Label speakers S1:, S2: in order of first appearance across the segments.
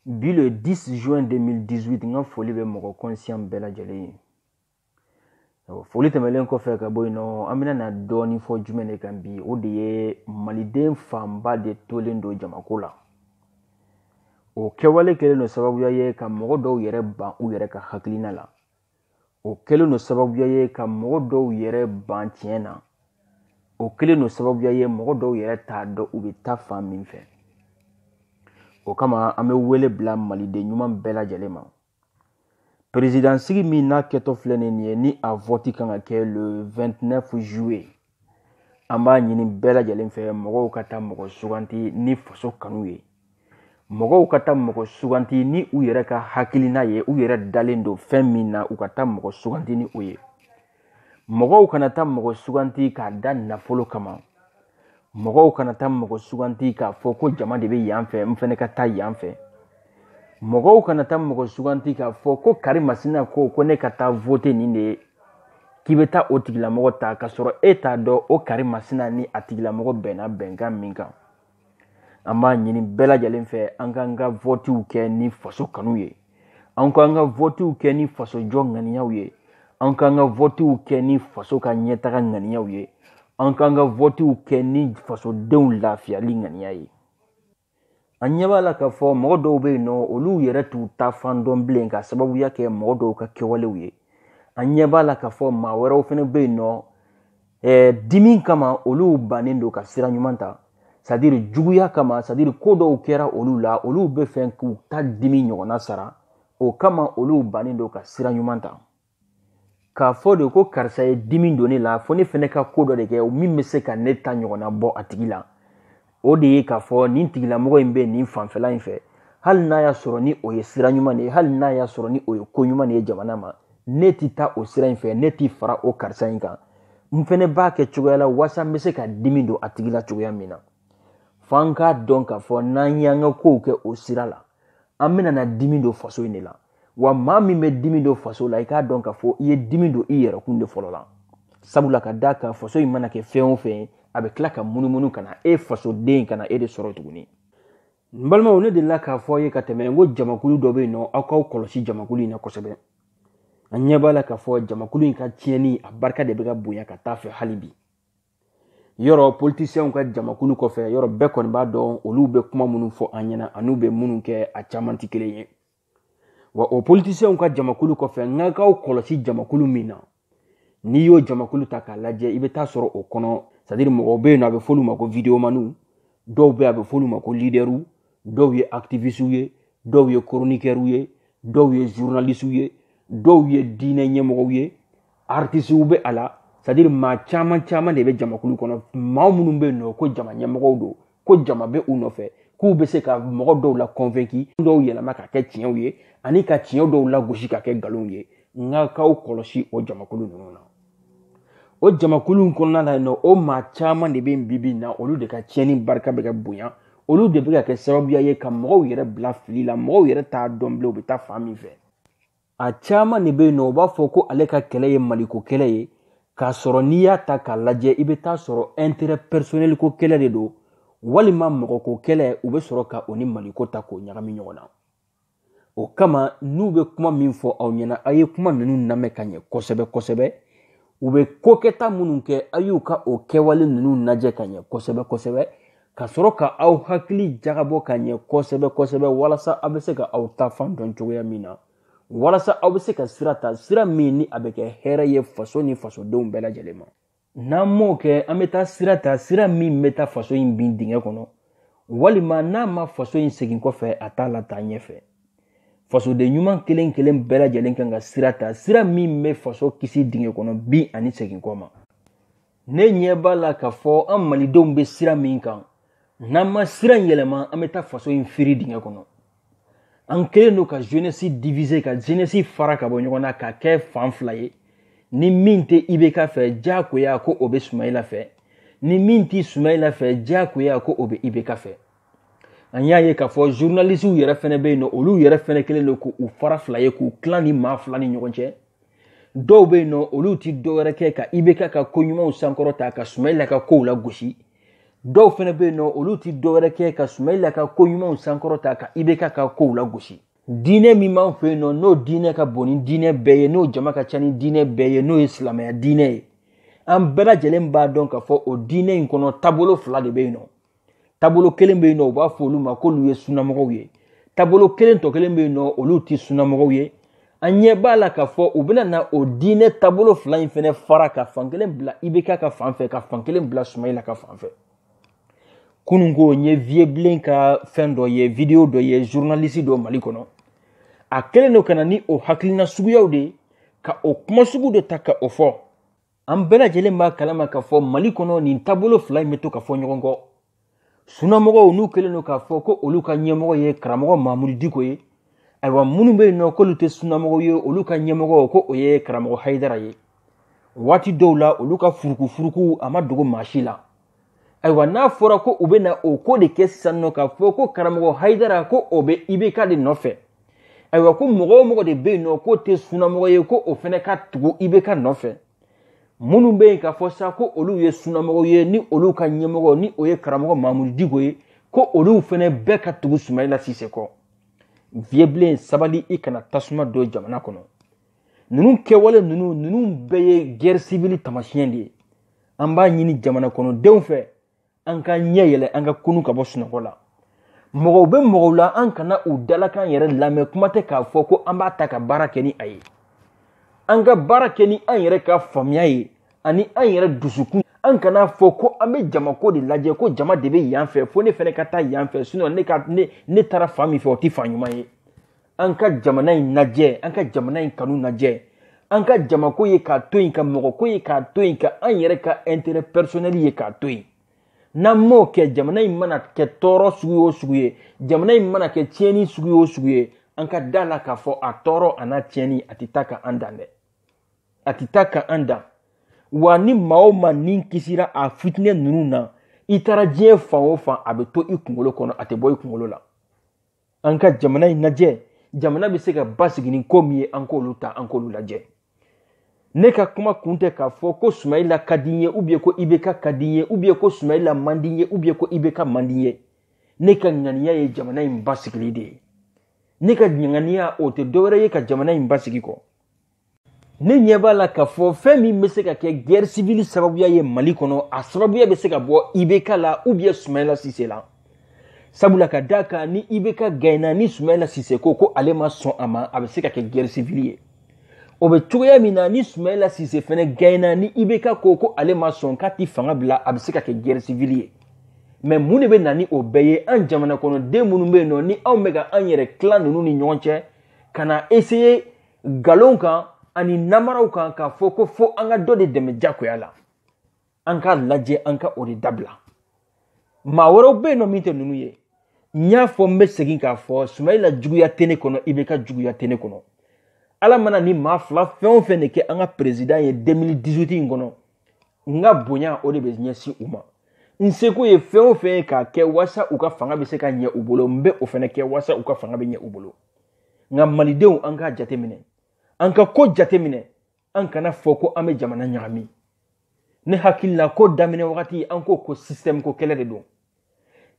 S1: bi le 10 juin 2018 n ka foli bɛ mɔgɔ conscient bɛɛ lajɛlen ye foli tɛmɛlen kɔfɛ ka bɔ yen nɔ an bɛna na dɔɔnin fɔ jumɛn de kan bi o de ye maliden fanba de tolen don jamako la o kɛwale kɛlen don sababuya ye ka mɔgɔ dɔw yɛrɛ ban u yɛrɛ ka hakilina la o kɛlen don sababuya ye ka mɔgɔ dɔw yɛrɛ ban tiɲɛ na o kɛlen don sababuya ye mɔgɔ dɔw yɛrɛ t'a dɔn u bɛ taa fan min fɛ o kama an bɛ wele bila maliden ɲuman bɛɛ lajɛlen ma perezidansigi min na kɛtɔ filɛ nin ye ni a vɔti kan ka kɛ le 29 juillet an b'a ɲini bɛɛ lajɛlen fɛ mɔgɔw ka taa mɔgɔ suganti ni faso kanu ye mɔgɔw ka taa mɔgɔ suganti ni u yɛrɛ ka hakilina ye u yɛrɛ dalen don fɛn min na u ka taa mɔgɔ suganti ni o ye mɔgɔw kana taa mɔgɔ suganti k'a da nafolo kama mɔgɔw kana taa mɔgɔ suganti k'a fɔ ko jama de bɛ yan fɛ n fɛnɛ ka taa yan fɛ mɔgɔw kana taa mɔgɔ suganti k'a fɔ ko kari masina ko ko ne ka taa vote nin de ye k'i bɛ taa o tigilamɔgɔ ta k'a sɔrɔ e t'a dɔn o kari masina ni a tigilamɔgɔ bɛnna bɛnkan min kan an b'a ɲini bɛɛ lajɛlen fɛ an k'an ka votiw kɛ ni faso kanu ye an k'an ka votiw kɛ ni faso jɔ ŋaniyaw ye an k'an ka votiw kɛ ni faso ka ɲɛtaga ŋaniyaw ye an k'an ka votiw kɛ ni fasodenw lafiyali ŋaniya ye an ɲɛ b'a la k'a fɔ mɔgɔ dɔw bɛ yen nɔ olu yɛrɛ t'u taa fan dɔn bilen k'a sababuya kɛ mɔgɔ dɔw ka kɛwalew ye an ɲɛ b'a la k'a fɔ maa wɛrɛw fɛnɛ bɛ yen nɔ eh, dimi kama olu bannen don ka sira ɲuman ta c'est-à-dire juguya kama c'est-à-dire ko dɔw kɛra olu la olu b'a fɛ k'u ta dimi ɲɔgɔnna sara o kama olu bannen don ka sira ɲuman ta k'a fɔ de ko karisa ye dimi don ne la fo ne fɛnɛ ka ko dɔ de kɛ min bɛ se ka ne ta ɲɔgɔnna bɔ a tigi la o de ye k'a fɔ nin tigilamɔgɔ in bɛ nin fanfɛla in fɛ hali n'a y'a sɔrɔ ni o ye sira ɲuman de ye hali n'a y'a sɔrɔ ni o ye ko ɲuman de ye jamana ma ne ti taa o sira in fɛ ne ti fara o karisa in kan n fɛnɛ b'a kɛ cogoya la walasa n bɛ se ka dimi don a tigi la cogoya min na f'an k'a dɔn k'a fɔ n'an y'an ka kow kɛ o sira la an bɛna na dimi don faso in de la wa maa min bɛ dimi don faso la i k'a dɔn k'a fɔ i ye dimi don i yɛrɛkun de fɔlɔ la sabula ka d'a kan faso in mana kɛ fɛn o fɛn ye a bɛ tila ka munumunu ka na e fasoden ka na e de sɔrɔ tuguni n balimaw ne delila k'a fɔ aw ye ka tɛmɛ n ko jamakulu dɔ bɛ yen nɔ aw k'aw kɔlɔsi jamakulu in na kosɛbɛ an ɲɛ b'a la k'a fɔ jamakulu in ka tiɲɛni a barika de bɛ ka bonya ka taa a fɛ hali bi yɔrɔ politisiyɛnw ka jamakulu kɔfɛ yɔrɔ bɛɛ kɔni b'a dɔn olu bɛ kuma minnu fɔ an ɲɛna an'u bɛ minnu kɛ a caman tɛ kelen ye wa o politisiɲɛw ka jamakulu kɔfɛ n ka k'aw kɔlɔsi jamakulu min na n'i y'o jamakulu ta k'a lajɛ i bɛ t'a sɔrɔ o kɔnɔ sadiri mɔgɔw bɛ yen nɔ a bɛ f'olu ma ko videomaniw dɔw bɛ a bɛ f'olu ma ko lidɛriw dɔw ye akitivisitiw ye dɔw ye koronikɛriw ye dɔw ye zurunalisiw ye dɔw ye diinɛ ɲɛmɔgɔw ye aritisiw bɛ a la sadiri maa caman caman de bɛ jamakulu kɔnɔ maa minnu bɛ yen nɔ ko jama ɲɛmɔgɔw don ko jama bɛ u nɔfɛ k'u bɛ se ka mɔgɔ dɔw la kɔnfɛki dɔw yɛlɛma ka kɛ tiɲɛw ye ani ka tiɲɛ dɔw lagosi ka kɛ nkalonw ye n ka k'aw kɔlɔsi o jamakulu ninnu na o jamakulu in kɔnɔna la yen nɔ o maa caman de bɛ yen bibi in na olu de ka tiɲɛni barika bɛ ka bonya olu de bɛ ka kɛ sababuya ye ka mɔgɔw yɛrɛ bila fili la mɔgɔw yɛrɛ t'a dɔn bilen u bɛ taa fan min fɛ a caman de bɛ yen nɔ u b'a fɔ ko ale ka kɛlɛ ye maliko kɛlɛ ye k'a sɔrɔ n'i y'a ta k'a lajɛ i bɛ t'a sɔrɔ ɛnterɛ pɛrisonɛli ko kɛlɛ de don walima mɔgɔko kɛlɛ u bɛ sɔrɔ ka o ni maliko ta k'o ɲagami ɲɔgɔn na o kama n'u bɛ kuma min fɔ aw ɲɛna a ye kuma ninnu lamɛn ka ɲɛ kosɛbɛ kosɛbɛ u bɛ ko kɛta minnu kɛ a y'u ka o kɛwale ninnu lajɛ ka ɲɛ kosɛbɛ kosɛbɛ ka sɔrɔ ka aw hakili jagabɔ ka ɲɛ kosɛbɛ kosɛbɛ walasa aw bɛ se ka aw taa fan dɔn cogoya min na walasa aw bɛ se ka sira ta sira min ni a bɛ kɛ hɛrɛ ye faso ni fasodenw bɛɛ lajɛlen ma n'an m'o kɛ an bɛ taa sira ta sira min bɛ taa faso in bin dingɛ kɔnɔ walima n'a ma faso in segin kɔfɛ a t'a lataa ɲɛfɛ fasoden ɲuman kelen kelen bɛɛ lajɛlen kan ka sira ta sira min bɛ faso kisi dingɛ kɔnɔ bin ani segin kɔ ma ne ɲɛ b'a la k'a fɔ an malidenw bɛ sira min kan n'an ma sira in yɛlɛma an bɛ taa faso in firi dingɛ kɔnɔ an kɛlen don ka jeunesse diviser ka jeunesse fara ka bɔ ɲɔgɔn na ka kɛ fan fila ye ni min tɛ ibk fɛ diyagoya ko o bɛ sumayila fɛ ni min tɛ sumayila fɛ diyagoya ko o bɛ ibk fɛ an y'a ye k'a fɔ zurunalisiw yɛrɛ fɛnɛ bɛ yen nɔ olu yɛrɛ fɛnɛ kɛlen don k'u fara fila ye k'u tilan nin maa fila ni ɲɔgɔn cɛ dɔw bɛ yen nɔ olu ti dɔ wɛrɛ kɛ ka ibk ka ko ɲumanw sankɔrɔta ka sumayila ka kow lagosi dɔw fɛnɛ bɛ yen nɔ olu ti dɔ wɛrɛ kɛ ka sumayila ka ko ɲumanw sankɔrɔta ka ibk ka kow lagosi diinɛ min b'an fɛ yen nɔ n'o diinɛ ka bon ni diinɛ bɛɛ ye n'o jama ka ca ni diinɛ bɛɛ ye n'o ye silamɛya diinɛ ye an bɛɛ lajɛlen b'a dɔn k'a fɔ o diinɛ in kɔnɔ taabolo fila de bɛ yen nɔ taabolo kelen bɛ yen nɔ u b'a fɔ olu ma k'olu ye sunamɔgɔw ye taabolo kelen tɔ kelen bɛ yen nɔ olu tɛ sunamɔgɔw ye an ɲɛ b'a la k'a fɔ u bɛna na o diinɛ taabolo fila in fɛnɛ fara ka fan kelen bila ibk ka fan fɛ ka fan kelen bila sumayila ka fan fɛ kunun ko n ye vieux bilen ka fɛn dɔ ye video dɔ ye journaliste dɔ mali kɔnɔ a kɛlen don ka na ni o hakilina suguyaw de ye ka o kuma sugu de ta ka o fɔ an bɛɛ lajɛlen b'a kalama k'a fɔ mali kɔnɔ nin taabolo fila in bɛ to ka fɔ ɲɔgɔn kɔ sunamɔgɔw n'u kɛlen don k'a fɔ ko olu ka ɲɛmɔgɔ ye karamɔgɔ mamudu diko ye ayiwa minnu bɛ yen nɔ k'olu tɛ sunamɔgɔw ye olu ka ɲɛmɔgɔ ko o ye karamɔgɔ hayidara ye waati dɔw la olu ka furukufuruku a ma dogo maa si la ayiwa n'a fɔra ko u bɛ na o ko de kɛ sisan nɔ k'a fɔ ko karamɔgɔ hayidara ko o bɛ ibk de nɔfɛ ayiwa ko mɔgɔ o mɔgɔ de bɛ yen nɔ k'o tɛ sunamɔgɔ ye ko o fɛnɛ ka tugu ibk nɔfɛ minnu bɛ yen k'a fɔ sa ko olu ye sunamɔgɔw ye ni olu ka ɲɛmɔgɔ ni o ye karamɔgɔ mamudu diko ye ko olu fɛnɛ bɛɛ ka tugu sumayila sise kɔ viye bilen sabali i kana tasuma don jamana kɔnɔ ninnu kɛwale ninnu ninnu bɛɛ ye guerre civile tamasiyɛn de ye an b'a ɲini jamana kɔnɔdenw fɛ an ka ɲɛ yɛlɛ an ka kunu ka bɔ sunɔgɔ la mɔgɔw bɛ mɔgɔw la an kana u dalakan yɛrɛ lamɛn kuma tɛ k'a fɔ ko an b'a ta ka baara kɛ ni a ye an ka baara kɛ ni an yɛrɛ ka faamuya ye ani an yɛrɛ dusukun an kana fɔ ko an bɛ jamako de lajɛ ko jama de bɛ yan fɛ fo ne fɛnɛ ka taa yan fɛ sinɔn ne ka ne ne taara fan min fɛ o tɛ fan ɲuman ye an ka jamana in lajɛ an ka jamana in kanu lajɛ an ka jamako ye k'a to yen ka mɔgɔko ye k'a to yen ka an yɛrɛ ka intérêt personnel ye k'a to yen n'an m'o kɛ jamana in mana kɛ tɔɔrɔ sugu o sugu ye jamana in mana kɛ tiɲɛni sugu o sugu ye an ka da la k'a fɔ a tɔɔrɔ an'a tiɲɛni a tɛ taa ka an dan dɛ a tɛ taa ka an dan wa ni maa o maa ni kisira a fitinɛ ninnu na i taara diɲɛ fan o fan a bɛ to i kunkolo kɔnɔ a tɛ bɔ i kunkolo la an ka jamana in lajɛ jamana bɛ se ka basigi ni ko min ye an k'olu ta an k'olu lajɛ ne ka kuma kun tɛ k'a fɔ ko sumayila ka di n ye ubiyɛn ko ibeka ka di n ye ubiyɛn ko sumayila man di n ye ubiyɛn ko ibeka man di n ye ne ka ŋaniya ye jamana in basigili de ye ne ka ŋaniya o tɛ dɔwɛrɛ ye ka jamana in basigi kɔ ne ɲɛ b'a la k'a fɔ fɛn min bɛ se ka kɛ guerre civile sababuya ye mali kɔnɔ a sababuya bɛ se ka bɔ ibk la ou bien sumayila sise la sabula ka d'a kan ni ibk gaɲena ni sumayila sise ko ko ale ma sɔn a ma a bɛ se ka kɛ guerre civile ye o bɛ cogoya min na ni sumayila sise fɛnɛ gaɲena ni ibk ko ko ale ma sɔn k'a ti fanga bila a bɛ se ka kɛ guerre civile ye mɛ mun de bɛ na ni o bɛɛ ye an jamanakɔnɔden minnu bɛ yen nɔ ni anw bɛ ka an yɛrɛ tila ninnu ni ɲɔgɔn cɛ ka na essayer nkalon kan ani namaraw kan k'a fɔ ko fo an ka dɔ de dɛmɛ jagoya la an k'a lajɛ an ka o de dabila maa wɛrɛw bɛ yen nɔ min tɛ ninnu ye n y'a fɔ n bɛ segin k'a fɔ sumayila juguya tɛ ne kɔnɔ ibk juguya tɛ ne kɔnɔ ala mana nin maa fila fɛn o fɛn de kɛ an ka perezidan ye 2018 in kɔnɔ n ka bonya o de bɛ ɲɛsin u ma n seko ye fɛn o fɛn ye k'a kɛ walasa u ka fanga bɛ se ka ɲɛ u bolo n bɛ o fɛnɛ kɛ walasa u ka fanga bɛ ɲɛ u bolo nka malidenw an k'a jateminɛ an ka ko jateminɛ an kana fɔ ko an bɛ jamana ɲagami ne hakili la ko daminɛ wagati an ko ko système ko kɛlɛ de don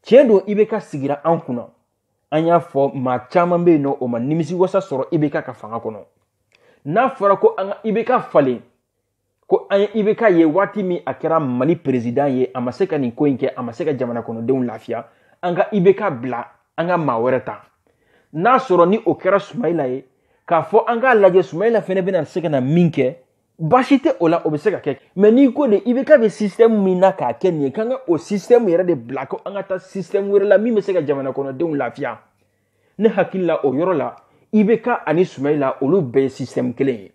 S1: tiɲɛ don ibk sigira an kunna an y'a fɔ maa caman bɛ yen nɔ o ma nimisi wasa sɔrɔ ibk ka fanga kɔnɔ n'a fɔra ko an ka ibk falen ko an ye ibk ye waati min a kɛra mali perezidan ye a ma se ka nin ko in kɛ a ma se ka jamana kɔnɔdenw lafiya an ka ibk bila an ka maa wɛrɛ ta n'a sɔrɔ ni o kɛra sumayila ye k'a fɔ an k'a lajɛ sumayila fɛnɛ bɛna se ka na min kɛ baasi tɛ o la o bɛ se ka kɛ mɛ n'i ko de ibk bɛ sistɛmu min na k'a kɛ nin ye k'an ka o sistɛmu yɛrɛ de bila ko an ka taa sistɛmu wɛrɛ la min bɛ se ka jamana kɔnɔdenw lafiya ne hakili la o yɔrɔ la ibk ani sumayila olu bɛɛ ye sistɛmu kelen ye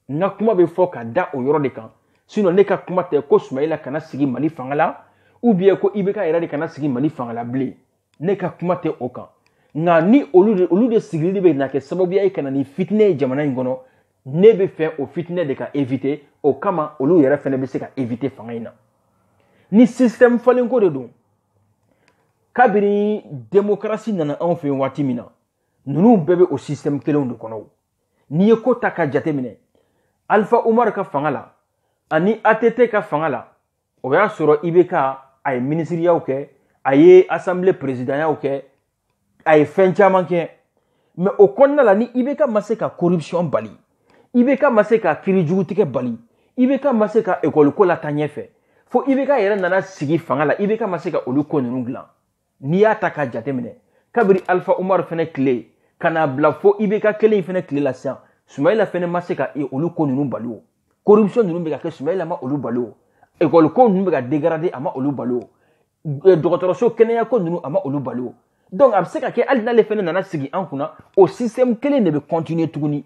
S1: n ka kuma bɛ fɔ ka da o yɔrɔ de kan sinɔn ne ka kuma tɛ ko sumayila kana sigi mali fanga la ubiyɛn ko ibk yɛrɛ de kana sigi mali fanga la bilen ne ka kuma tɛ o kan nka ni olu de olu de sigili de bɛ na kɛ sababuya ye ka na ni fitinɛ ye jamana in kɔnɔ ne bɛ fɛ o fitinɛ de ka evite o kama olu yɛrɛ fana bɛ se ka evite fanga in na ni système falenko de don kabini demokarasi nana anw fɛ waati min na ninnu bɛɛ bɛ o système kelenw de kɔnɔ n'i ye ko ta ka jateminɛ alifa umaru ka fanga la ani att ka fanga la o y'a sɔrɔ ibk a ye minisiriyaw kɛ a ye asanbile perezidanyaw kɛ a ye fɛn caman kɛ mɛ o kɔnɔna la ni ibk ma se ka corruption bali ibk ma se ka kiri jugu tigɛ bali ibk ma se ka ekɔliko lataa ɲɛfɛ fo ibk yɛrɛ nana sigi fanga la ibk ma se ka olu ko ninnu dilan n'i y'a ta k'a jateminɛ kabiri alifa umaru fɛnɛ tile ka n'a bila fo ibk kelen in fɛnɛ tile la sisan sumayila fɛnɛ ma se ka e olu ko ninnu bali o corruption ninnu bɛ ka kɛ sumayila ma olu bali o ekɔli ko ninnu bɛ ka dégrader a ma olu bali o e, dɔgɔtɔrɔso kɛnɛya ko ninnu a ma olu bali o donc a bɛ se ka kɛ hali n'ale fɛnɛ nana sigi an kunna o système kelen de bɛ continuer tuguni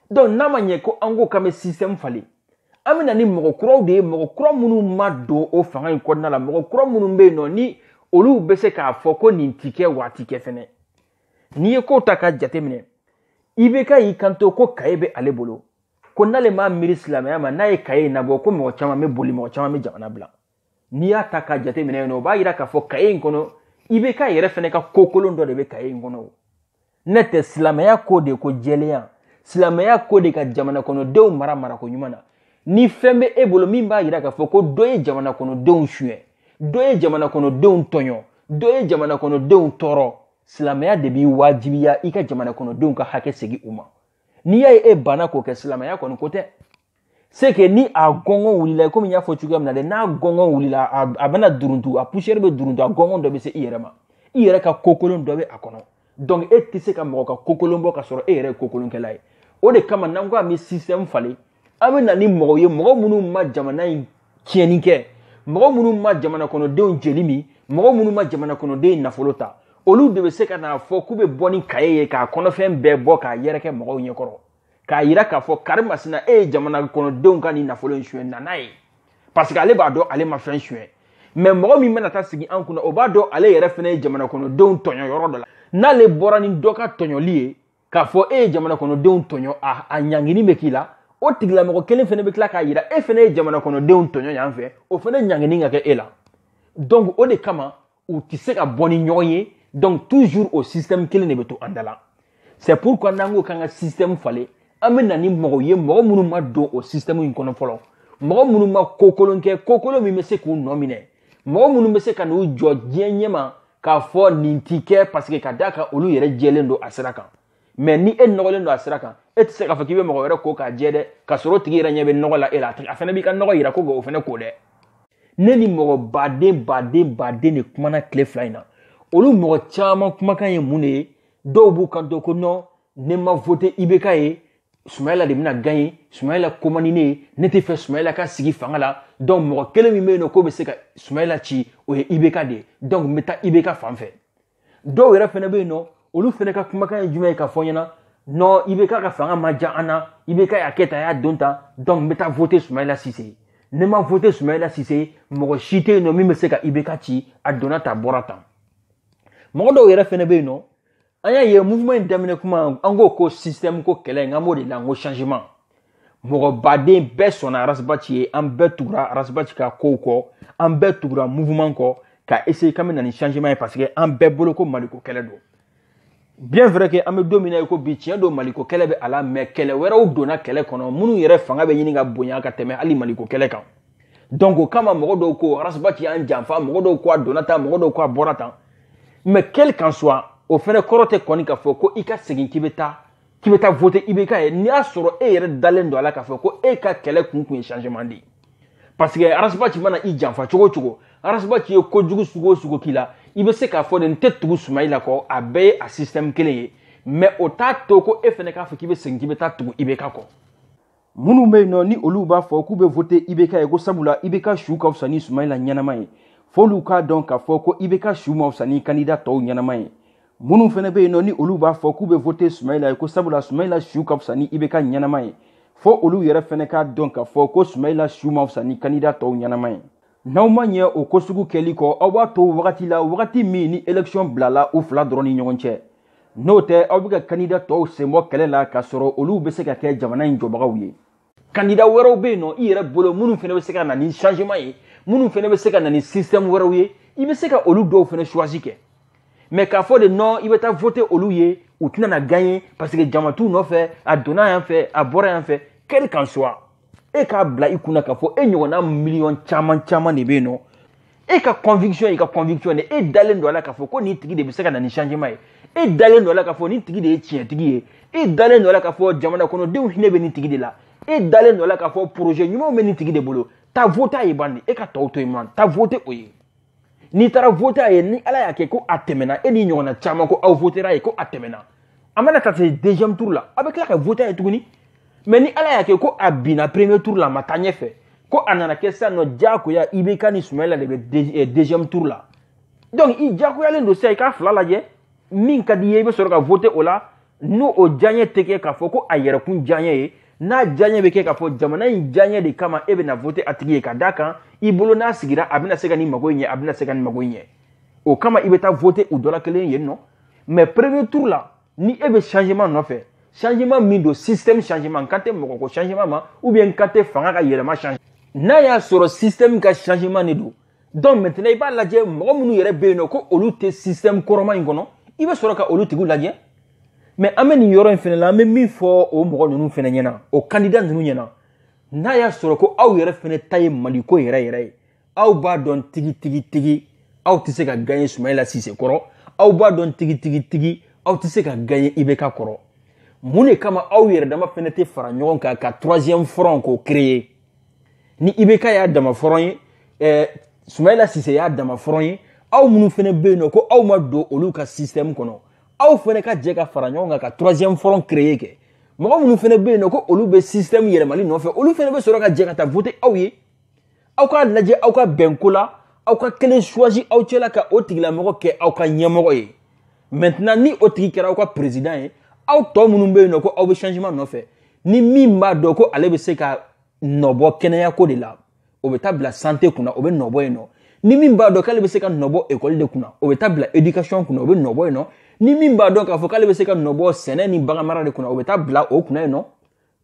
S1: donc n'a ma ɲɛ ko an ko k'an bɛ système falen an bɛ na ni mɔgɔ kuraw de ye mɔgɔ kura minnu ma don o fanga in kɔnɔna la mɔgɔ kura minnu bɛ yen nɔ ni olu bɛ se k'a fɔ ko nin ti kɛ waati kɛ fɛnɛ n'i ye kow ta ka jateminɛ ibk y'i kanto ko kaye bɛ ale bolo ko n'ale m'a miiri silamɛya ma n'a ye kaye in nabɔ ko mɔgɔ caman bɛ boli mɔgɔ caman bɛ jamana bila n'i y'a ta k'a jateminɛ yen nɔ o b'a yira k'a fɔ kaye in kɔnɔ ibk yɛrɛ fɛnɛ ka ko kolon dɔ de bɛ kaye in kɔnɔ n'o tɛ silamɛya ko de ko jɛlenya silamɛya ko de ka jamana kɔnɔdenw mara marako ɲuman na ni fɛn bɛ e bolo min b'a yira k'a fɔ ko dɔ ye jamana kɔnɔdenw suɲɛ dɔ ye jamana kɔnɔdenw tɔɲɔ dɔ ye jamana kɔnɔdenw tɔɔrɔ silamɛya de b'i wajibiya i ka jamana kɔnɔdenw ka hakɛ segin u ma n'i y'a ye e banna k'o kɛ silamɛya kɔni ko tɛ c'est que ni a gɔngɔn wulila komi n y'a fɔ cogoya min na dɛ n'a gɔngɔn wulila a, a bɛna duruntu a poussière bɛ duruntu a gɔngɔn dɔ bɛ se i yɛrɛ ma i yɛrɛ ka kokolon dɔ bɛ a kɔnɔ donc e tɛ se ka mɔgɔ ka kokolon bɔ ka sɔrɔ e yɛrɛ ye kokolonkɛla ye o de kama n'an ko an bɛ système falen an bɛ na ni mɔgɔw ye mɔgɔ minnu ma jamana in tiɲɛni kɛ mɔgɔ minnu ma jamana kɔnɔdenw jeli min mɔgɔ minnu ma jamana kɔnɔdenw nafolo ta olu de bɛ se ka n'a fɔ k'u bɛ bɔ ni kaye ye k'a kɔnɔfɛn bɛɛ bɔ k'a yɛrɛkɛ mɔgɔw ɲɛkɔrɔ k'a yira k'a fɔ kari masina e ye jamana kɔnɔdenw ka nin nafolo in suɲɛ na n'a ye parce que ale b'a dɔn ale ma fɛn suɲɛ mais mɔgɔ min bɛna taa sigi an kunna o b'a dɔn ale yɛrɛ fɛnɛ ye jamana kɔnɔdenw tɔɲɔ yɔrɔ dɔ la n'ale bɔra ni dɔ ka tɔɲɔli ye k'a fɔ e ye jamana kɔnɔdenw tɔɲɔ a ɲangini bɛ k'i la o tigilamɔgɔ kelen fɛnɛ bɛ tila k'a yira e fɛnɛ ye jamana kɔnɔdenw tɔɲɔ yan fɛ o fɛnɛ ɲangini ka kɛ e la donc o de kama u tɛ se ka bɔ ni ɲɔgɔn ye donc toujours o système kelen de bɛ to an da la c'est pourquoi n'an ko k'an ka système falen an bɛ na ni mɔgɔw ye mɔgɔ minnu ma don o système in kɔnɔ fɔlɔ mɔgɔ minnu ma kokolon kɛ kokolon min bɛ se k'u nɔ minɛ mɔgɔ minnu bɛ se ka n'u jɔ diɲɛ ɲɛma k'a fɔ nin ti kɛ parce que ka d'a kan olu yɛrɛ jɛlen don a sira kan mais ni e nɔgɔlen don a sira kan e tɛ se k'a fɔ k'i bɛ mɔgɔ wɛrɛ ko k'a jɛ dɛ ka sɔrɔ o tigi yɛrɛ ɲɛ bɛ nɔgɔ la e la a fɛnɛ b'i ka nɔgɔ yira ko k'o fɛnɛ ko dɛ ne ni mɔgɔ baden baden baden de kumana tile fila in na olu mɔgɔ caman kumakan ye mun de ye dɔw b'u kanto ko non ne ma voter IBK ye sumayila de bɛna gagner sumayila ko man di ne ye ne tɛ fɛ sumayila ka sigi fanga la donc mɔgɔ kelen min bɛ yen nɔ k'o bɛ se ka sumayila ci o ye IBK de ye donc n bɛ taa IBK fan fɛ dɔw yɛrɛ fɛnɛ bɛ yen nɔ olu fɛnɛ ka kumakan ye jumɛn ye k'a fɔ n ɲɛna non IBK ka fanga ma diya an na IBK y'a kɛ tan a y'a don tan donc n bɛ taa voter sumayila sise ye ne ma voter sumayila sise ye mɔgɔ si tɛ yen nɔ min bɛ se ka IBK ci a donna tan a bɔra tan mɔgɔ dɔw yɛrɛ fɛnɛ bɛ yen nɔ an y'a ye mouvement in daminɛ kuma an ko système ko kɛlɛ in an b'o de la n ko changement mɔgɔ baden bɛɛ sɔnna arasibaci ye an bɛɛ tugura arasibaci ka kow kɔ an bɛɛ tugura mouvement kɔ ka essayer k'an bɛ na ni changement ye parce que an bɛɛ bolo ko maliko kɛlɛ don bien vrai que an bɛ don min na i ko bi tiɲɛ don maliko kɛlɛ bɛ a la mais kɛlɛ wɛrɛw donna kɛlɛ kɔnɔ minnu yɛrɛ fanga bɛ ɲini ka bonya ka tɛmɛ hali maliko kɛlɛ kan donc o kama mɔgɔ dɔw ko arasibaci y'an janfa mɔgɔ dɔw ko a donna tan mɔgɔ dɔw ko a bɔra tan mais quel qu'en soit o fɛnɛ kɔrɔ tɛ kɔni k'a fɔ ko i ka segin k'i bɛ taa k'i bɛ taa voter IBK ye n'i y'a sɔrɔ e yɛrɛ dalen don a la k'a fɔ ko e ka kɛlɛ kun kun ye changement de ye parce que arasibaci mana i janfa cogo o cogo arasibaci ye kojugu sugu o sugu k'i la i bɛ se k'a fɔ de n tɛ tugu sumayila kɔ a bɛɛ ye a système kelen ye mais o t'a to ko e fɛnɛ k'a fɔ k'i bɛ segin k'i bɛ taa tugu IBK kɔ minnu bɛ yen nɔ ni olu b'a fɔ k'u bɛ vote ibk ye ko sabula ibk su ka fisa ni sumayila ɲɛnama ye f'olu k'a dɔn k'a fɔ ko ibk su ma fisa ni kandida tɔw ɲɛnama ye minnu fana bɛ yen nɔ ni olu b'a fɔ k'u bɛ vote sumayila ye ko sabula sumayila su ka fisa ni ibk ɲɛnama ye fo olu yɛrɛ fana k'a dɔn k'a fɔ ko sumayila su ma fisa ni kandida tɔw ɲɛnama ye n'aw ma ɲɛ o ko sugu kɛli kɔ aw b'a to wagati la wagati min ni elekisiyɔn bilala u fila dɔrɔn ni ɲɔgɔn cɛ n'o tɛ aw bɛ ka kandida tɔw sen bɔ kɛlɛ la k'a sɔrɔ olu bɛ se ka kɛ jamana in jɔbagaw ye kandida wɛrɛw bɛ yen nɔ i yɛrɛ bolo minnu fana bɛ se ka na ni changement ye minnu fana bɛ se ka na ni système wɛrɛw ye i bɛ se ka olu dɔw fana choisi kɛ mais k'a fɔ de non i bɛ taa voter olu ye u tɛna na gagner parce que jama t'u nɔfɛ a donna yan fɛ a bɔra yan fɛ quel qu'en soit e k'a bila i kunna k'a fɔ e ɲɔgɔnna miliyɔn caman caman de bɛ yen nɔ e ka conviction ye i ka conviction de e dalen don a la k'a fɔ ko nin tigi de bɛ se ka na ni changement ye e dalen don a la k'a fɔ nin tigi de ye tiɲɛtigi ye e dalen don a la k'a fɔ jamana kɔnɔdenw hinɛ bɛ nin tigi de la e dalen don a la k'a fɔ projet ɲumanw bɛ nin tigi de bolo taa vote a ye bani e ka tɔw to yen man taa vote o ye n'i taara vote a ye ni ala y'a kɛ ko a tɛmɛna e n'i ɲɔgɔnna caman ko aw votera a ye ko a tɛmɛna a mana taa se deuxième tour la aw bɛ tila ka vote a ye tuguni mais ni ala y'a kɛ ko a binna premier tour la a ma taa ɲɛfɛ ko a nana kɛ sisan nɔ diyagoya ibk ni sumayila de bɛ deuxième tour la donc i diyagoyalen don sisan i k'a fila lajɛ min ka di i ye i bɛ sɔrɔ ka vote o la n'o o diyaɲɛ tɛ kɛ k'a fɔ ko a yɛrɛkun diyaɲɛ ye n'a diyaɲɛ bɛ kɛ k'a fɔ jamana in diyaɲɛ de kama e bɛna vote a tigi ye ka d'a kan i bolo n'a sigira a bɛna se ka nin mago in ɲɛ a bɛna se ka nin mago in ɲɛ o kama i bɛ taa vote u dɔ la kelen yen nɔ mais premier tour la ni e bɛ changement nɔfɛ changement min don système changement n kan tɛ mɔgɔ ko changement ma ou bien n kan tɛ fanga ka yɛlɛma changement n'a y'a sɔrɔ système ka changement de don donc maintenant i b'a lajɛ mɔgɔ minnu yɛrɛ bɛ yen nɔ ko olu tɛ système kɔrɔma in kɔnɔ i bɛ sɔrɔ ka olu tigiw lajɛ mais an bɛ nin yɔrɔ in fana la an bɛ min fɔ o mɔgɔ ninnu fana ɲɛna o candidat ninnu ɲɛna n'a y'a sɔrɔ ko aw yɛrɛ fana ta ye mali ko yɛrɛ yɛrɛ ye aw b'a dɔn tigi tigi tigi aw tɛ se ka gagner sumayila sise kɔrɔ aw b'a dɔn tigi tigi tigi aw tɛ se ka gagner ibk kɔrɔ mun de kama aw yɛrɛ dama fana tɛ fara ɲɔgɔn kan ka troisième front k'o créer ni ibk y'a dama front ye ɛɛ sumayila sise y'a dama front ye aw minnu fana bɛ yen nɔ ko aw ma don olu ka système kɔnɔ aw fana ka jɛ ka fara ɲɔgɔn kan ka troisième front créer kɛ mɔgɔ minnu fana bɛ yen nɔ ko olu bɛ système yɛlɛmali nɔfɛ olu fana bɛ sɔrɔ ka jɛ ka taa voter aw ye aw k'a lajɛ aw ka bɛn ko la aw ka kelen choisi aw cɛla ka o tigilamɔgɔ kɛ aw ka ɲɛmɔgɔ ye maintenant ni o tigi kɛra aw ka président ye aw tɔ minnu bɛ yen nɔ ko aw bɛ changement nɔfɛ ni min b'a dɔn ko ale bɛ se ka nɔbɔ kɛnɛyako de la o bɛ taa bila sante kunna o bɛ nɔbɔ yen nɔ ni min b'a dɔn k'ale bɛ se ka nɔbɔ ekɔli de kunna o bɛ taa bila edikasɔn kunna o bɛ nɔbɔ yen nɔ ni min b'a dɔn k'a fɔ k'ale bɛ se ka nɔbɔ sɛnɛ ni baganmara de kunna o bɛ taa bila o kunna yen nɔ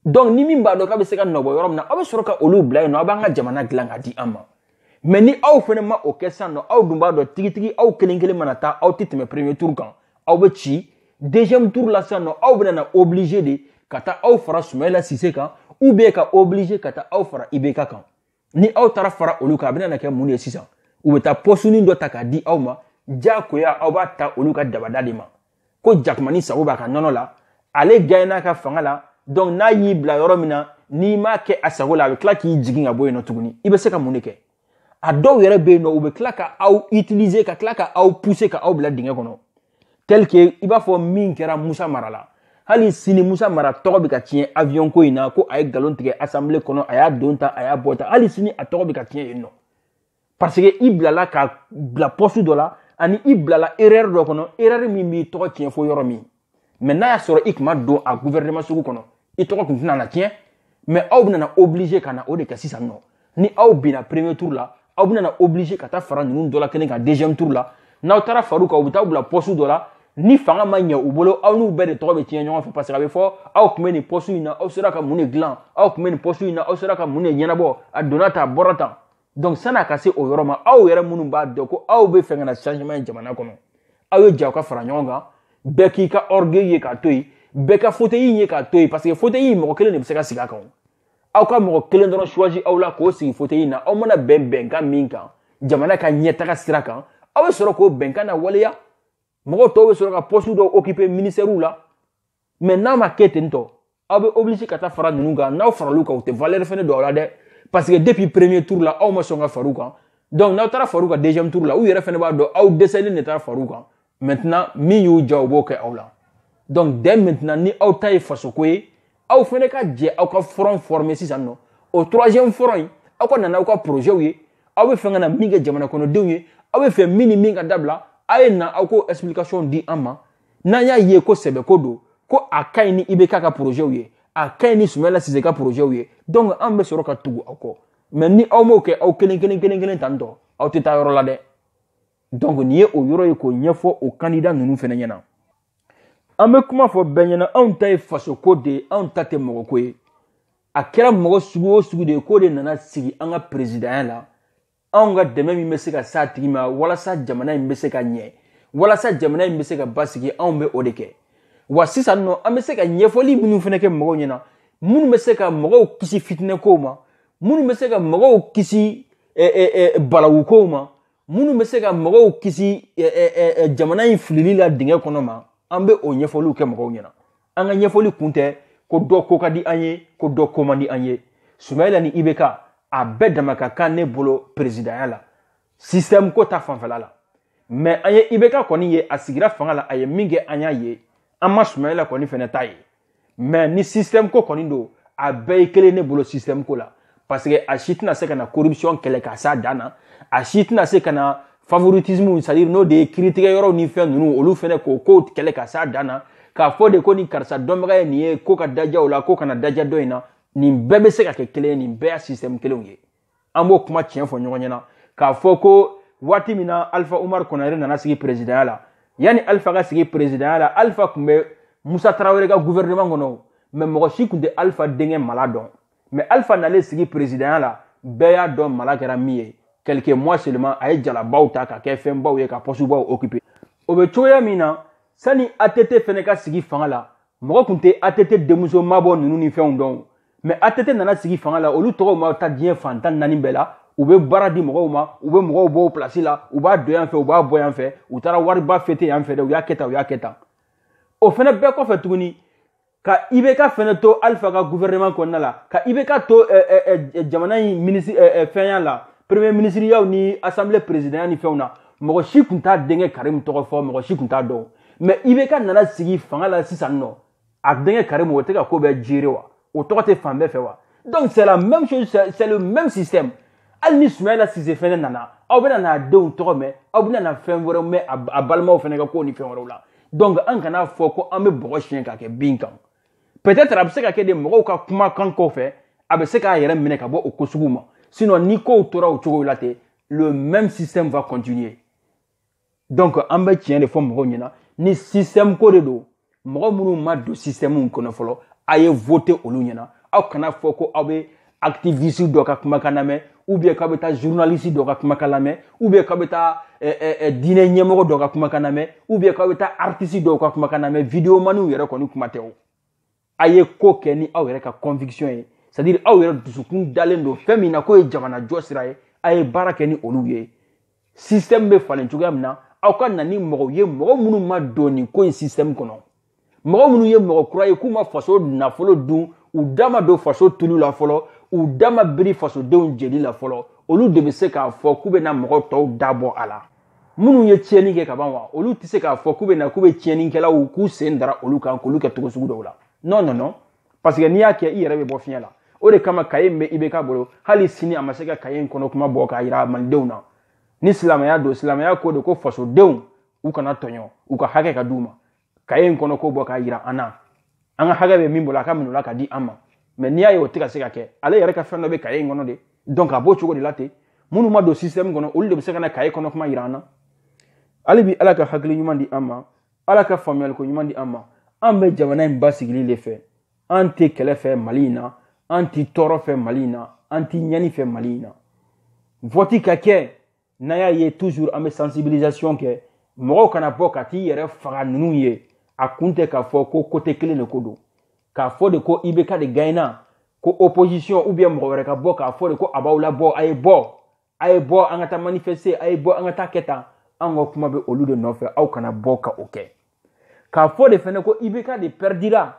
S1: donc ni min b'a dɔn k'a bɛ se ka nɔbɔ yɔrɔ min na aw bɛ sɔrɔ ka olu bila yen nɔ aw b'an ka jamana dilan k'a di an ma mɛ ni aw fɛnɛ ma o kɛ sisan nɔ aw dun b'a dɔn tigitigi aw kelen kelen mana taa aw tɛ tɛmɛ premier tour kan aw bɛ ci deuxième tour la sisan nɔ aw bɛna na oblige de ka taa aw fara sumayila sise kan ou bien ka oblige ka taa aw fara ibeka kan ni aw taara fara olu kan a bɛna na kɛ mun de ye sisan u bɛ taa pɔsuni dɔ ta k'a di aw ma diyagoya aw b'a ta olu ka dabada de ma ko jakumani sago b'a ka nɔnɔ la ale gaye n'a ka fanga la donc n'a y'i bila yɔrɔ min na n'i m'a kɛ a sago la a bɛ tila k'i jigin ka bɔ yen nɔ tuguni i bɛ se ka mun de kɛ a dɔw yɛrɛ bɛ yen nɔ u bɛ tila ka aw utiliser ka tila ka aw pousser ka aw bila dingɛ kɔnɔ tel que i b'a fɔ min kɛra musa mara la hali sini musa mara tɔgɔ bɛ ka tiɲɛ avion ko in na ko a ye nkalon tigɛ assemblée kɔnɔ a y'a don tan a y'a bɔ tan hali sini a tɔgɔ bɛ ka tiɲɛ yen nɔ parce que i bilala ka bila pɔsu dɔ la ani i bilala erreur dɔ kɔnɔ erreur min b'i tɔgɔ tiɲɛ fo yɔrɔ min mɛ n'a y'a sɔrɔ i tun ma don a gouvernement sugu kɔnɔ i tɔgɔ tun tɛna na tiɲɛ mɛ aw bɛna oblige ka na o de kɛ sisan nɔ ni aw binna premier tour la aw bɛna oblige ka taa fara ninnu dɔ la kelen kan deuxième tour la n'aw taara far'u kan u bɛ t'aw bila pɔsu dɔ la ni fanga ma ɲɛ u bolo aw n'u bɛɛ de tɔgɔ bɛ tiɲɛ ɲɔgɔn fɛ parce que a bɛ fɔ aw tun bɛ nin pɔsu in na aw sera ka mun de dilan aw tun bɛ nin pɔsu in na aw sera ka mun de ɲɛnabɔ a donna tan a bɔra tan donc sani a ka se o yɔrɔ ma aw yɛrɛ minnu b'a dɔn ko aw bɛ fɛ ka na changement ye jamana kɔnɔ aw ye jɛ ka fara ɲɔgɔn kan bɛɛ k'i ka orgueil ye k'a to yen bɛɛ ka fauteuil ye k'a to yen parce que fauteuil mɔgɔ kelen de bɛ se ka sigi a kan aw ka mɔgɔ kelen dɔrɔn choisi aw la k'o sigi fauteuil na aw mana bɛn bɛnkan min kan jamana ka ɲɛtaga sira kan aw bɛ sɔrɔ k'o bɛnkan nawaleya mɔgɔ tɔw bɛ sɔrɔ ka poste dɔw occuper ministères la mɛ n'a ma kɛ ten tɔ aw bɛ oblige ka taa fara ninnu kan n'aw faral'u kan u tɛ valeur fɛnɛ don aw la dɛ parce que depuis premier tour la aw ma sɔn ka far'u kan donc n'aw taara far'u kan deuxième tour la u yɛrɛ fɛnɛ b'a dɔn aw dɛsɛlen de taara far'u kan maintenant min y'u diya u b'o kɛ aw la donc dès maintenant ni aw ta ye fasoko ye aw fɛnɛ ka jɛ aw ka front former sisan nɔ o troisième front in aw ka na n'aw ka projets ye aw bɛ fɛ ka na min kɛ jamana kɔnɔdenw ye aw bɛ fɛ min ni min ka dabila aw ye na aw k'o explication di an ma n'an y'a ye ko sɛbɛko don ko a ka ɲi ni ibeka ka porozɛw ye a ka ɲi ni sumayila sise ka porozɛw ye donc an bɛ sɔrɔ ka tugu aw kɔ mɛ ni aw m'o kɛ aw kelen kelen kelen kelen tan tɔ aw tɛ taa yɔrɔ la dɛ donc nin ye o yɔrɔ ye k'o ɲɛfɔ o kandida ninnu fana ɲɛna an bɛ kuma fɔ bɛɛ ɲɛna anw ta ye fasoko de ye anw ta tɛ mɔgɔko ye a kɛra mɔgɔ sugu o sugu de ye k'o de nana sigi an ka perezidanya la anw ka dɛmɛ min bɛ se ka s'a tigi ma walasa jamana in bɛ se ka ɲɛ walasa jamana in bɛ se ka basigi anw bɛ o de kɛ wa sisan nɔ an bɛ se ka ɲɛfɔli minnu fɛnɛ kɛ mɔgɔw ɲɛna minnu bɛ se ka mɔgɔw kisi fitinɛkow ma minnu bɛ se ka mɔgɔw kisi balawukow ma minnu bɛ se ka mɔgɔw kisi jamana in filili la dingɛ kɔnɔ ma an bɛ o ɲɛfɔliw kɛ mɔgɔw ɲɛna an ka ɲɛfɔli kun tɛ ko dɔ ko ka di an ye ko dɔ ko man di an ye sumayila ni ibk a bɛɛ dama ka kan ne bolo peresidanya la sistɛmu ko ta fanfɛla la mɛ an ye ibk kɔni ye a sigira fanga la a ye min kɛ an y'a ye an ma sumayila kɔni fɛnɛ ta ye mɛ ni sistɛmu ko kɔni don a bɛɛ ye kelen ne bolo sistɛmu ko la parce que a si tɛna se ka na corruption kɛlɛ ka s'a dan na a si tɛna se ka na favoritisme c'est à dire n'o de ye kiritigɛ yɔrɔw ni fɛn ninnu olu fɛnɛ k'o kow kɛlɛ ka s'a dan na k'a fɔ de ko ni karisa dɔnbaga ye nin ye ko ka daja o la ko kana daja dɔ in na nin bɛɛ bɛ se ka kɛ kelen ye nin bɛɛ y'a système kelenw ye an b'o kuma tiɲɛ fɔ ɲɔgɔn ɲɛna k'a fɔ ko waati min na alpha umar konare nana sigi présidentya la yanni alpha ka sigi présidentya la alpha tun bɛ musa tarawele ka gouvernement kɔnɔ mɛ mɔgɔ si tun tɛ alpha denkɛ mala dɔn mɛ alifa nalen sigi peresidanya la bɛɛ y'a dɔn mala kɛra min ye quelques mois seulement a ye jalabaw ta ka kɛ fɛnbaw ye ka pɔsubaw occuper o bɛ cogoya min na sani att fɛnɛ ka sigi fanga la mɔgɔ tun tɛ att denmuso mabɔ ninnu ni fɛnw dɔn mɛ att nana sigi fanga la olu tɔgɔw ma taa diɲɛ fan tan naani bɛɛ la u bɛ baara di mɔgɔw ma u bɛ mɔgɔw bɔ pilasi la u b'a don yan fɛ u b'a bɔ yan fɛ u taara wariba fete yan fɛ dɛ u y'a kɛ tan u y'a kɛ tan o fɛnɛ bɛɛ kɔfɛ tuguni ka ibk fɛnɛ to alifa ka gouvernement kɔnɔna la ka ibk to eh, eh, eh, jamana in minisiri fɛnya la premier minisiriyaw ni assemblée présidentya ni fɛnw na mɔgɔ si tun t'a denkɛ karimu tɔgɔ fɔ mɔgɔ si tun t'a dɔn mɛ ibk nana sigi fanga la sisan nɔ a denkɛ karimu o tɛ ka ko bɛɛ gérer wa o tɔgɔ tɛ fan bɛɛ fɛ wa donc c'est la même chose c'est le même système hali ni sumayila sise fɛnɛ nana aw bɛna n'a denw tɔgɔ mɛn aw bɛna na fɛn wɛrɛw mɛn a balimaw fɛnɛ ka kow ni fɛn wɛrɛw la donc an kana a fɔ ko an bɛ bɔgɔ siɲɛ ka kɛ bin kan peut-être a bɛ se ka kɛ de mɔgɔw ka kumakan kɔfɛ a bɛ se k'a yɛrɛ minɛ ka bɔ o ko sugu ma sinon ni kow tora o cogo la ten le même système va continuer donc an bɛ tiɲɛ de fɔ mɔgɔw ɲɛna ni système ko de don mɔgɔ minnu ma don système kɔnɔ fɔlɔ a ye voter olu ɲɛna aw kana a fɔ ko aw bɛ activiste dɔ ka kumakan lamɛn ou bien k'aw bɛ taa journaliste dɔ ka kumakan lamɛn ou bien k'aw bɛ taa eh, eh, eh, diinɛ ɲɛmɔgɔ dɔ ka kumakan lamɛn ou bien k'aw bɛ taa artiste dɔw ka kumakan lamɛn videomaniw yɛrɛ kɔni kuma tɛ o a ye ko kɛ ni aw yɛrɛ ka conviction ye c'est à dire aw yɛrɛ dusukun dalen don fɛn min na k'o ye jamana jɔ sira ye a ye baara kɛ ni olu ye système bɛ falen cogoya min na aw ka na ni mɔgɔw ye mɔgɔ minnu ma don nin ko in système kɔnɔ mɔgɔ minnu ye mɔgɔ kura ye k'u ma faso nafolo dun u da ma don faso tulu la fɔlɔ u da ma biri fasodenw jeli la fɔlɔ olu de bɛ se k'a fɔ k'u bɛna mɔgɔ tɔw da bɔ a la minnu ye tiɲɛni kɛ ka ban wa olu tɛ se k'a fɔ k'u bɛ na k'u bɛ tiɲɛnikɛlaw k'u sen dara olu kan k'olu kɛ cogo sugu dɔw la non non non parce que n'i y'a kɛ i yɛrɛ bɛ bɔ fiɲɛ la o de kama kaye min bɛ ibk bolo hali sini a ma se ka kaye in kɔnɔ kuma bɔ k'a jira malidenw na ni silamɛya don silamɛya ko de ko fasodenw u kana tɔɲɔ u ka hakɛ ka d'u ma kaye in kɔnɔ ko bɔ k'a yira an na an ka hakɛ bɛ min bolo a ka minɛ o la ka di an ma mais n'i y'a ye o tɛ ka se ka kɛ ale yɛrɛ ka fɛn dɔ bɛ kaye in kɔnɔ de donc a b'o cogo de la ten minnu ma don système kɔnɔ olu de bɛ se ka na kaye kɔnɔ kuma yira an na hali bi ala ka hakili ɲuman di an ma ala ka faamuyaliko ɲuman di an ma an bɛ jamana in basigili de fɛ an tɛ kɛlɛ fɛ mali in na an tɛ tɔɔrɔ fɛ mali in na an tɛ ɲɛni fɛ mali in na vɔti ka kɛ n'a y'a ye toujours an bɛ sensibilisation kɛ mɔgɔw kana bɔ ka t'i yɛrɛ faga ninnu ye a kun tɛ k'a fɔ ko côté kelen de ko don k'a fɔ de ko ibk de gaɲena ko opposition ou bien mɔgɔ wɛrɛ ka bɔ k'a fɔ de ko a b'aw labɔ a ye bɔ a ye bɔ an ka taa manifester a ye bɔ an ka taa kɛ tan an ka kuma bɛ olu de nɔfɛ aw kana bɔ ka o kɛ k'a fɔ de fɛnɛ ko ibk de pɛridira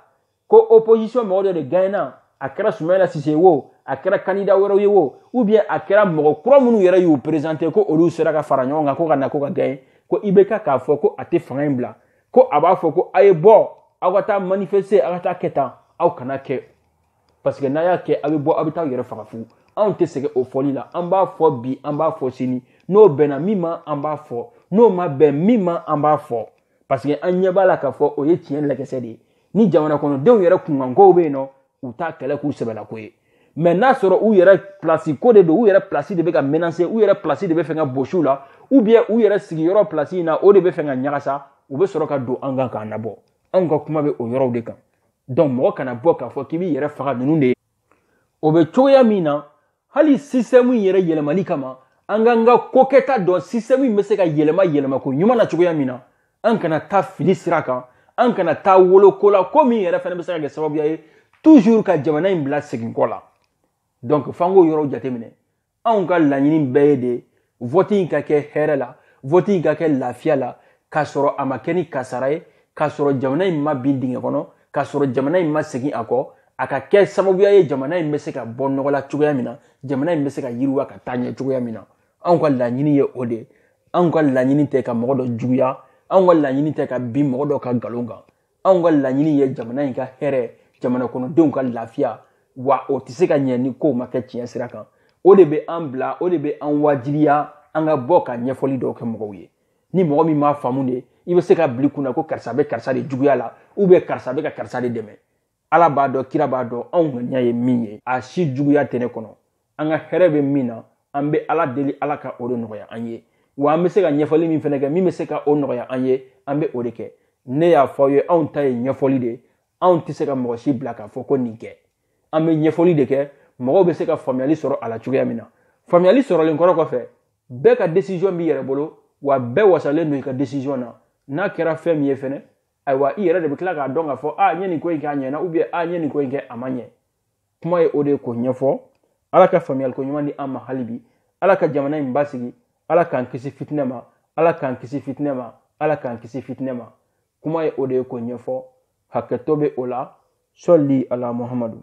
S1: ko opposition mɔgɔ dɔ de gaɲena a kɛra sumayɛla sise wo a kɛra kandida wɛrɛw ye wo ou bien a kɛra mɔgɔ kura minnu yɛrɛ y'u présenter ko olu sera ka fara ɲɔgɔn kan ko ka na ko ka gagner ko ibk k'a fɔ ko a tɛ fanga in bila ko a b'a fɔ ko a ye bɔ aw ka taa manifester aw ka taa kɛ tan aw kana kɛ parce que n'a y'a kɛ aw bɛ bɔ aw bɛ taa aw yɛrɛ faga fu anw tɛ sɛgɛn o fɔli la an b'a fɔ bi an b'a fɔ sini n'o bɛnna min ma an b'a fɔ n'o ma bɛn min ma an b'a fɔ parce que an ɲɛ b'a la k'a fɔ o ye tiɲɛ lagɛsɛ de ye ni jamana kɔnɔdenw yɛrɛ kunkankow bɛ yen nɔ u t'a kɛlɛ k'u sɛbɛlako ye mais n'a sɔrɔ u yɛrɛ pilasi ko de don u yɛrɛ pilasi de bɛ ka menacer u yɛrɛ pilasi de bɛ fɛ ka bosi u la ou bien u yɛrɛ sigiyɔrɔ pilasi in na o de bɛ fɛ ka ɲagasa u bɛ sɔrɔ ka don an kan k'an nabɔ anw ka kuma bɛ o yɔrɔw de kan donc mɔgɔ kana bɔ k'a fɔ k'i b'i yɛrɛ faga ninnu de ye o bɛ cogoya min na hali système in yɛrɛ yɛlɛmali kama an k'an ka kokɛta dɔn système in bɛ se ka yɛlɛma yɛlɛma ko ɲuman na cogoya min na an kana taa fili sira kan an kana taa woloko la ko min yɛrɛ fana bɛ se ka kɛ sababuya ye toujours ka jamana in bila segin kɔ la donc f'an k'o yɔrɔw jateminɛ anw ka laɲini bɛɛ ye de vɔti in ka kɛ hɛrɛ la vɔti in ka kɛ lafiya la k'a sɔrɔ a ma kɛ ni kasara ye k'a sɔrɔ jamana in ma bin dingɛ kɔnɔ k'a sɔrɔ jamana in ma segin a kɔ a ka kɛ sababuya ye jamana in bɛ se ka bɔ nɔgɔ la cogoya min na jamana in bɛ se ka yiriwa ka taa ɲɛ cogoya min na anw ka laɲini ye o de anw ka laɲini tɛ ka mɔgɔ dɔ juguya anw ka laɲini tɛ ka bin mɔgɔ dɔ kan nkalon kan anw ka laɲini ye jamana in ka hɛrɛ jamana kɔnɔdenw ka lafiya wa o tɛ se ka ɲɛ ni kow ma kɛ tiɲɛ sira kan o de bɛ an bila o de bɛ an wajibiya an ka bɔ ka ɲɛfɔli dɔw kɛ mɔgɔw ye ni mɔgɔ min m'a faamu de i bɛ se k'a bila i kunna ko karisa bɛ karisa de juguya la ubiyɛn karisa bɛ ka karisa de dɛmɛ ala b'a dɔn kira b'a dɔn anw ŋaniya ye min ye a si juguya tɛ ne kɔnɔ an ka hɛrɛ bɛ min na an bɛ ala deli ala ka o de nɔgɔya an ye wa an bɛ se ka ɲɛfɔli min fɛnɛ kɛ min bɛ se ka o nɔgɔya an ye an bɛ o de kɛ ne y'a fɔ aw ye anw ta ye ɲɛfɔli de anw tɛ se ka mɔgɔ si bila k'a fɔ ko nin kɛ an bɛ ɲɛfɔli de kɛ mɔgɔw bɛ se ka faamuyali sɔrɔ a la cogoya min na faamuyali sɔrɔlen kɔrɔ kɔfɛ bɛɛ ka desizɔn b'i yɛrɛ bolo wa bɛɛ wasalen don i ka desizɔn na n'a kɛra fɛn min ye fɛnɛ ayiwa i yɛrɛ de bɛ tila k'a dɔn k'a fɔ a n ye nin ko in kɛ a ɲɛna ubiyɛn a n ye nin ko in kɛ a ma ɲɛ kuma ye o de ye k'o ɲɛfɔ ala ka faamuyaliko ɲuman di an ma hali bi ala ka jamana in basigi ala k'an kisi fitinɛ ma ala k'an kisi fitinɛ ma ala k'an kisi fitinɛ ma kuma ye o de ye k'o ɲɛfɔ hakɛto bɛ o la sɔli ala muhamadu